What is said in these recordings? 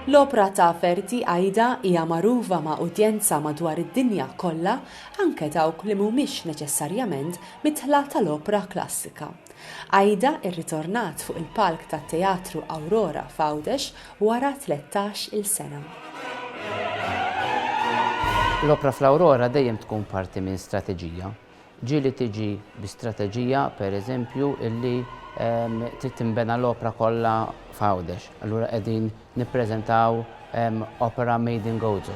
L-opra ta' Verdi Aida hija magħrufa ma' udjenza madwar id-dinja kollha, anke dawk li mhumiex neċessarjament midħla tal-opra klassika. Aida rritornat fuq il-palk tat-Teatru Aurora f'Għawdex wara tlettax-il sena. L-opra fl-Aurora dejjem tkun parti minn strateġija. Ġieli tiġi bi strateġija, per eżempju, illi trid tinbena l-opra kollha f'Għawdex. Allura qegħdin nippreżentaw opera made in Gozo.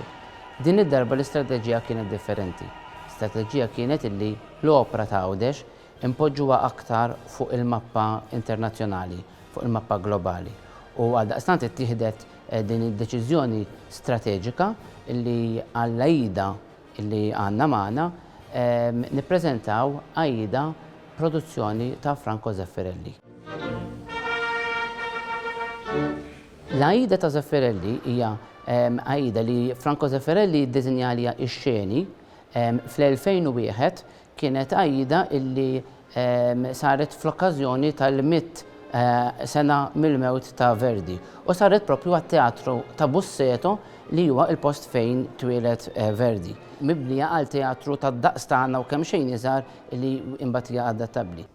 Din id-darba l-istrateġija kienet differenti. L-istrateġija kienet illi l-opra ta' Għawdex inpoġġuha aktar fuq il-mappa internazzjonali, fuq il-mappa globali. U għaldaqstant ittieħdet din id-deċiżjoni strateġika illi għall-Aida li għandna magħna, nippreżentaw Aida produzzjoni ta' Franco Zeffirelli. L-Aida ta' Zeffirelli hija Aida li Franco Zeffirelli ddisinja għaliha x-xeni fl-2001 kienet għajda illi saret fl-okkażjoni tal-mitt sena mill-mewt ta' Verdi u saret proprju għat-Teatru ta' Busseto li huwa l-post fejn twieled Verdi, mibnija għal teatru tad-daqs tagħna u kemxejn iżgħar li imbagħad hija adattabbli.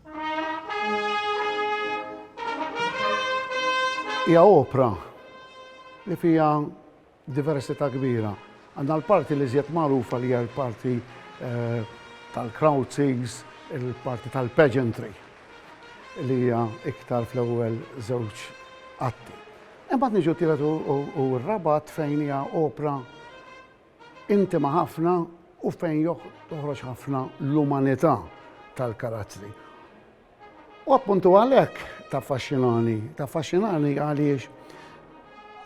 Hija opra li fiha Diversità kbira. Għandna l-parti l-iżjed magħrufa li hija l-parti tal-crouchings, il-parti tal-pageantry li hija iktar fl-ewwel żewġ atti. Imbagħad niġu t-tielet u r-raba' att fejn hija opra intima ħafna u fejn toħroġ ħafna l-umanità tal-karattri. U appuntu għalhekk taffaxxinani, taffaxxinani għaliex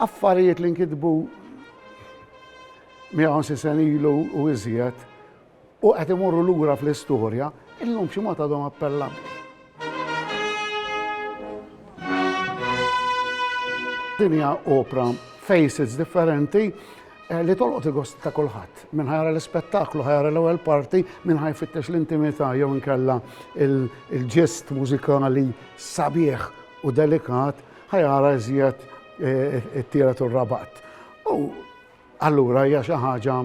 affarijiet li nkitbu 150 sen ilu u iżjed u qed imorru lura fl-istorja, illum xi mod għadhom appellanti. Dinja opra faces differenti Li tolqot il-gost ta' kulħadd. Min ħa jara l-ispettaklu, ħa jara l-ewwel parti, min ħa jfittex l-intimità jew inkella l-ġest mużikali sabiħ u delikat, ħa jara iżjed it-tielet u r-rabgħat. U allura hija xi ħaġa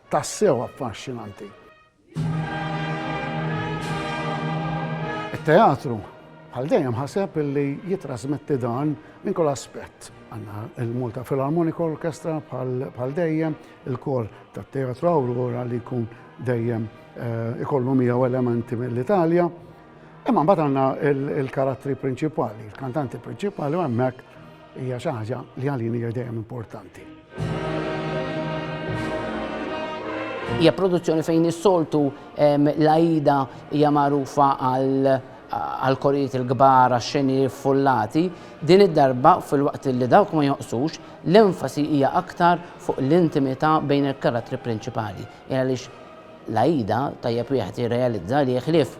tassew affaxxinanti. It-teatru bħal dejjem ħaseb li jitrasmetti dan minn kull aspett. Għanna il-Malta Philharmonic Orchestra bħal dejjem, il-kor ta' teatru Aurora li jkun dejjem eh, ikollu miegħu elementi mill-Italja, Imma mbagħad għandna il-karattri prinċipali, il-kantanti prinċipali u hemmhekk hija xi ħaġa li għalin hija dejjem importanti. Hija produzzjoni fejn is-soltu l-Aida hija magħrufa għal korijiet il-kbar għax-xeni fullati, din id-darba fil-waqt li dawk ma joqsux, l-enfasi hija aktar fuq l-intimità bejn il-karattri prinċipali. Għaliex L-Aida, tajjeb wieħed jirrealizza li ħlief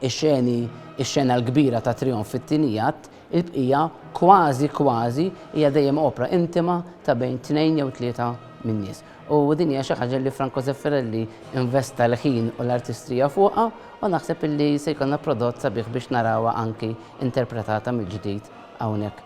ix-xeni, ix-xena l-kbira tat-trijonf fit-tieni att, il-bqija kważi kważi hija dejjem opra intima ta' bejn tnejn jew tlieta min-nies. U din hija xi ħaġa li Franco Zeffirelli investa l-ħin u l-artistrija fuqha u naħseb illi se jkollna prodott sabiħ biex narawha anki interpretata mill-ġdid hawnhekk.